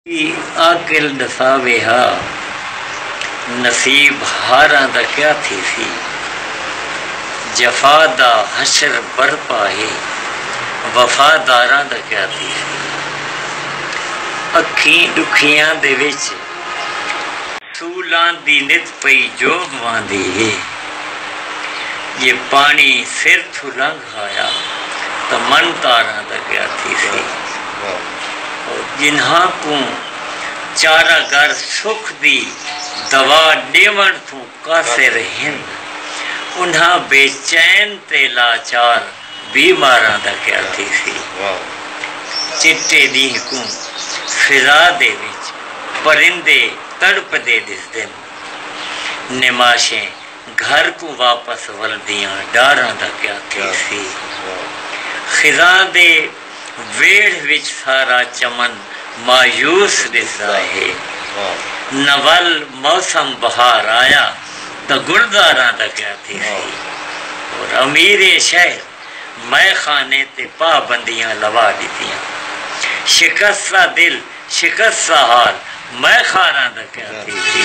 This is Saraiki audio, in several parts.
دی عاقل ݙساوے ہا نصیب ہاراں دا کیا تھیسی جفا دا حشر برپا ہے وفا داراں دا کیا تھیسی اکھیں ݙکھیاں دے وچ سولاں دی نت پئی جوبھواندی ہے جے پاݨی سر تھوں لنگھ کھایا تاں من تاراں دا گیا تھیسی او جنہاں کوں چارہ گر سکھ دی دوا ݙیوݨ تھوں قاصر ہن انہاں بے چین تے لاچار بی ماراں دا گیا تھیسی چٹے ݙینہہ کوں فضا دے وچ پرندے تڑپدے ݙسدن نماشیں گھر کوں واپس ولدیاں ڈاراں دا کیا تھیسی۔ خزاں دے ویڑھ وچ سارا چمن مایوس ڈسدا ہے۔ نہ ول موسم بہار آیا تاں گلزاراں دا کیا تھیسی۔ اور امیر شہر مئے خانے تے پابندیاں لوا ڈتیاں۔ شکستہ دل شکست سہال میں خاراں دا کیا تھیسی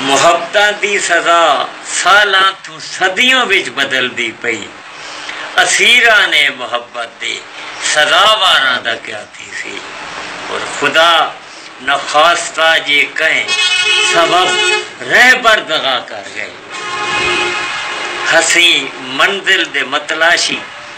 محبتاں دی سزا سالاں تھوں صدیوں وچ بدلدی پئی اسیران اے محبت دے سزا واراں دا کیا تھیسی اور خدا نخواستہ جے کہیں سبب رہبر دغا کر گئے ہسیں منزل دے متلاشی